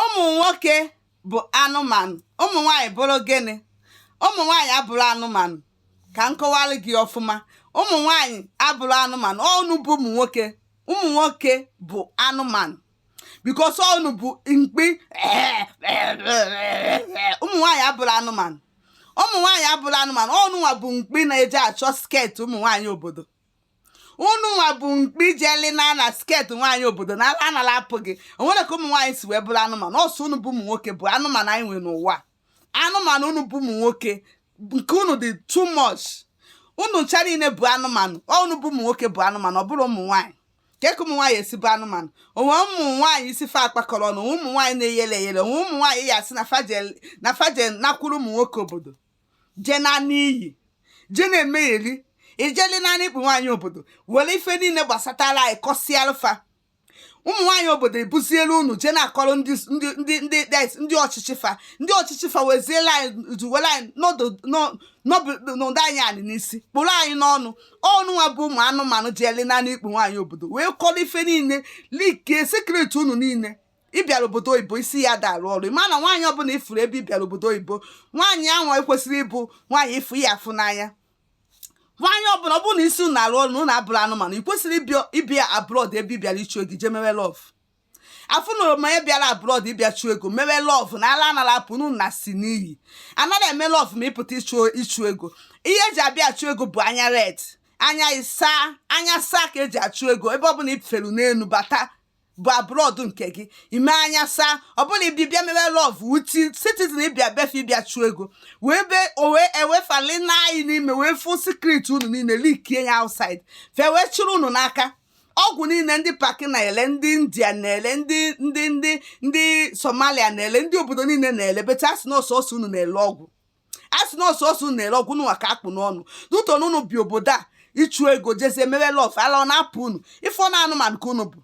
ụmụ nwoke bụ anụmanụ ụmụ nwaanyị bụrụ gịnị ụmụ nwaanyị abụrọ anụmanụ ka m kọwara gị ọfụma ụmụ nwaanyị abụrọ anụmanụ unu bụ ụmụ nwoke ụmụ nwoke bụ anụmanụ because unu bụ mkpi ụmụ nwaanyị abụrọ anụmanụ ụmụ nwaanyị abụrọ anụmanụ unu nwa bụ mkpi na-eje achọ skirt ụmụ nwaanyị obodo unu nwa bụ mkpi jeli na na skirt nwaanyị obodo na ala ana-apụ gị o nwerọ ka ụmụ nwaanyị si wee bụrụ anụmanụ ọ sọ unu bụ ụmụ nwoke bụ anụmanụ anyị nwere n'ụwa anụmanụ unu bụ ụmụ nwoke nke unu dị too much unu ncha niile bụ anụmanụ ọ unu bụ ụmụ nwoke bụ anụmanụ ọ bụrọ ụmụ nwaanyị ka eke ụmụ nwaanyị esi bụ anụmanụ o nwe ụmụ nwaanyị isi fa akpakọrọ ọnụ o nwe ụmụ nwaanyị na-eyele eyele o nwe ụmụ nwaanyị ya asị na fa jelụ na fa jelụ nakwuru ụmụ nwoke obodo je na n'iyi je na-emegheri ijeli naanị ikpu nwaanyị obodo were ife niile gbasatara anyị kọsịara fa ụmụ nwaanyị obodo ebuzielu unu je na-akọrọ ndị ndị ndị ndị dis- ndị ọchịchị fa ndị ọchịchị fa weziela anyị duwere anyị n'ọdụ n'ọ- n'ọbụ- n'ụdọ anyị anị n'isi kpụrụ anyị n'ọnụ unu nwa bụ ụmụ anụmanụ ji ele naanị ikpu nwaanyị obodo wee kọrọ ife niile leakie secret unu niile ịbịara obodo oyibo isi ya ada arụ ọrụ ịma na nwaanyị ọbụla ị fụrụ ebe ịbịara obodo oyibo nwaanyị ahụ ekwesịrọ ịbụ nwaanyị ị fụ ya afụ n'anya nwaanyị ọbụla ọ bụrụ na isi unu arụ ọrụ na unu abụrọ anụmanụ ị kwesịrị ịbịa abroad ebe ị bịara ịchụ ego jee mewe love afụ na oroma ya bịara abroad ịbịa chụọ ego mewe love na ala ana-apụ unu nasịa n'iyi anaghị eme love ma ịpụta ịchụ ego ihe eji abịa achụ ego bụ anya red anya isaa anya saa ka eji achụ ego ebe ọbụla i felu n'elu bata bụ abroad nke gị ime anya saa ọ bụrọ ịbị- ịbịa mewe love with citizen ịbịa be fa ịbịa chụọ ego wee be owe ewefali na anyị n'ime wee fụ secret unu niile leakie ya outside fa wee chụrụ unu n'aka ọgwụ niile ndị paki na-ele ndị india na-ele ndị ndị ndị ndị somalia na-ele ndị obodo niile na-ele beta asị na ọ sọọsọ unu na-ele ọgwụ a sị na ọ sọọsọ unu na-ere ọgwụ unu nwa ka a kpụ n'ọnụ due to na unu bịa obodo a ịchụ ego jezie mewe love ala ọ na-apụ unu ị fụ na anụmanụ ka unu bụ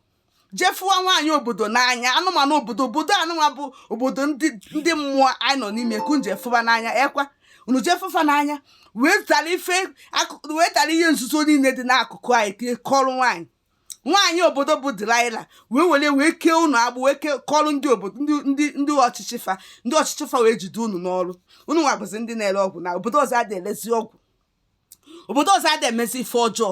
je fụwa nwaanyị obodo n'anya anụmanụ obodo obodo a nụnwa bụ obodo ndị ndị mmụọ anyị nọ n'ime ka unu je fụwa n'anya ọ kwa unu je fụ fa n'anya wee tara ife akụ- wee tara ihe nzuzo niile dị n'akụkụ anyị tinye kọrọ nwaanyị nwaanyị obodo bụ delilah wee were wee kee ụnụ agbụ wee kee kọrọ ndị obodo ndị ndị ndị ọchịchị fa ndị ọchịchị fa wee jide ụnụ n'ọrụ ụnụ nwa bụzi ndị na-ere ọgwụ na obodo ọzọ adị elezi ọgwụ obodo ọzọ adị emezi ife ọjọọ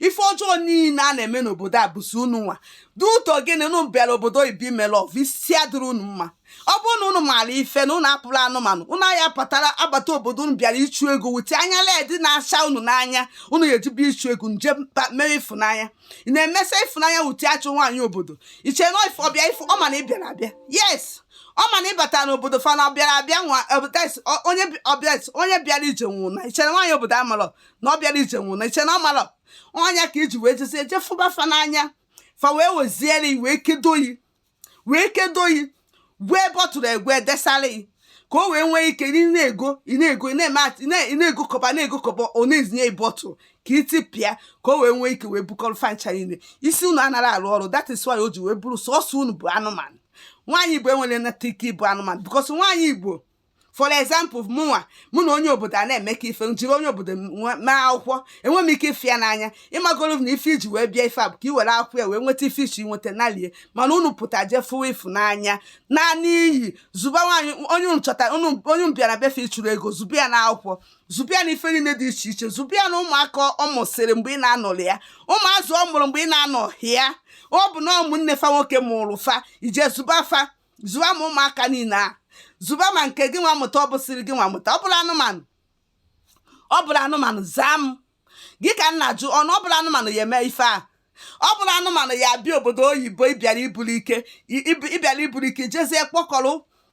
ife ọjọọ niile a na-eme n'obodo a bụzi ụnụ nwa due to gịnị ụnụ bịara obodo oyibo ime love isi adịrọ ụnụ mma ọ bụrụ na unu maara ife na unu abụrọ anụmanụ unu anya pụtara abata obodo unu bịara ịchụ ego with anya red na-acha unu n'anya unu ga-ejibu ịchụ ego nje mkpa mere ịfụnanya ị na-emesa ịfụnanya wute achụ nwaanyị obodo i che na ife ọbịa ife ọ ma na ị bịara abịa yes ọ ma na ị batara n'obodo fa na ọbịara abịa nwa ọbịa- ọ- onye bi- ọbịa onye bịara ije nwe ụna i che na nwaanyị obodo amarọ na ọ bịara ije nwe ụna i che na ọ marọ ọ nya ka i ji wee jezie jee fụba fa n'anya fa wee weziere i wee kedo yi wee kedo yi gwuo ebe ọ tụrụ egwe desara yi ka o wee nwee ike ị na-ego ị na-ego ị na-eme ati- ị na- ị na-egokọba na-egokọba ọ na-ezinye ọtụ ka i tipịa ka o wee nwee ike wee bukọrọ fa ncha niile isi unu anaghị arụ ọrụ that is why o ji wee bụrụ sọsọ unu bụ anụmanụ nwaanyị igbo enwerọ nata ike ịbụ anụmanụ because nwaanyị igbo for example mụnwa mụ na onye obodo a na-emekọ ife m jiri onye obodo mee akwụkwọ enwe m ike ịfụ ya n'anya ị magoro na ife i ji wee bịa ife a bụ ka i were akwụkwọ ya wee nweta ife ị chọ inweta nalie mana unu pụta jee fụwa ịfụnanya naanị iyi zụba nwaanyị onye unu chọta onye ị bịara be fa ịchụ ego zụba ya na akwụkwọ zụba ya na ife niile dị iche iche zụba ya na ụmụaka ọ mụsịrị mgbe ị na-anọrọ ya ụmụazụ ọ mụrụ mgbe ị na-anọghị ya ọbụna ụmụnne fa nwoke mụrụ fa i jee zụba fa zụba ma ụmụaka niile a zụba ma nke gị nwa mụta ọ bụsịrị gị nwa mụta ọ bụrọ anụmanụ ọ bụrọ anụmanụ zaa m gị ka m na-ajụ ọnụ ọ bụrọ anụmanụ ya-eme ife a ọ bụrọ anụmanụ ya-abịa obodo oyibo ị bịara iburu ike ị bịara iburu ike jezie kpọkọrọ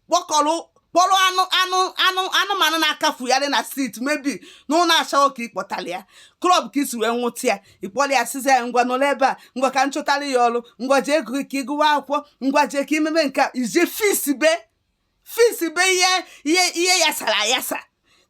kpọkọrọ kpọrọ anụ anụ anụ anụmanụ na-akpafugharị na street maybe na ụlọ ashawo ka ị kpọtara ya club ka i si wee nwụta ya ị kpọrọ ya sịzị ya ngwa nọrọ ebe a ngwa ka m chọtara ya ọrụ ngwa jee ego ka ị gụwa akwụkwọ ngwa jee ka i mebe nke a i jee fix be fix be ihe ihe ihe yasara ayasa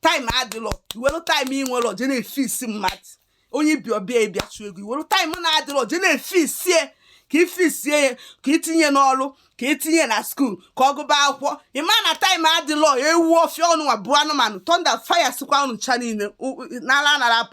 time adịlọ i welu time ị nwerọ jee na-efix mmadụ onye ị bịa be ya bịa ịchụ ego i were time na-adịrọ je na-efix ya ka i fix ya ka i tinye n'ọrụ ka i tinye na school ka ọ gụba akwụkwọ ị ma na time adịlọ ewu ọfịa unu nwa bụ anụmanụ thunder fire sikwa unu ncha niile n'ala anara apụ